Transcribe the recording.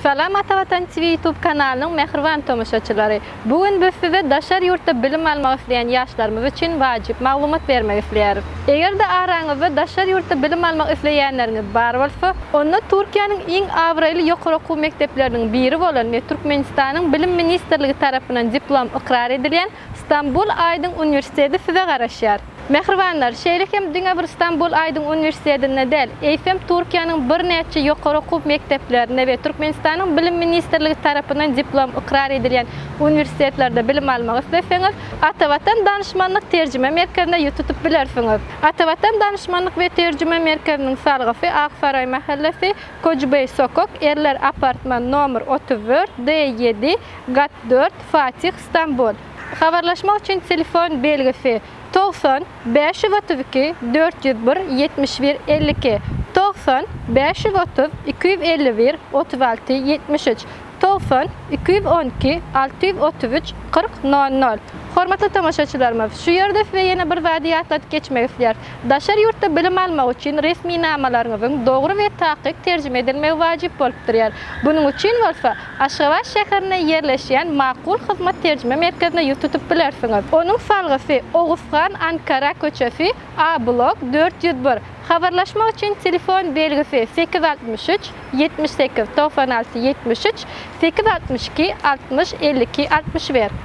Salam Atavatan TV YouTube kanalynyň mähriban tomaşaçylary! Bu gün biz size daşary ýurtda bilim almak isleýän ýaşlarymyz üçin wajyp maglumat bermek isleýäris. Eger-de araňyzda daşary ýurtda bilim almak isleýänleriňiz bar bolsa, onda Türkiýäniň iň abraýly ýokary okuw mekdepleriniň biri bolan we Türkmenistanyň Bilim ministrligi tarapyndan diplom ykrar edilýän Stambul Aýdyň uniwersiteti size garaşýar. Mähribanlar, şeýle hem diňe bir Stambul Aýdyň uniwersitetinde däl, eýsem Türkiýäniň birnäçe ýokary okuw mekdeplerinde we Türkmenistanyň Bilim ministrligi tarapyndan diplom ykrar edilýän uniwersitetlerde bilim almak isleseňiz, Atavatan Danyşmanlyk Terjime Merkezine ýüz tutup bilersiňiz. Atavatan Danyşmanlyk we Terjime Merkeziniň salgysy Ak Saraý mähellesi, Koçbeý sokak, Erler apartman, nomer otuz dört, D ýedi, gat dört, Fatih, Stambul. Habarlaşmak üçin telefon belgisi, togsan, bäş ýüz otuz iki, dört ýüz bir, ýetmiş bir, elli iki, togsan, bäş ýüz otuz, iki ýüz elli bir, otuz alty, ýetmiş üç, togsan, iki ýüz on iki, alty ýüz otuz üç, kyrk, nol nol. Hormatly tomaşaçylarymyz, şu ýerde size ýene bir zady ýatladyp geçmek isleýäris. Daşary ýurtda bilim almak üçin resminamalaryňyzyň dogry we takyk terjime edilmegi wajyp bolup durýar. Bunuň üçin bolsa, Aşgabat şäherinde ýerleşýän Makul hyzmat terjime merkezine ýüz tutup bilersiňiz. Onuň salgysy, Oguzhan Ankara köçesi, A blok, dört ýüz bir. Habarlaşmak üçin telefon belgisi, sekiz altmyş üç, ýetmiş sekiz, togsan alty, ýetmiş üç, sekiz altmyş iki, altmyş, elli iki, altmyş bir.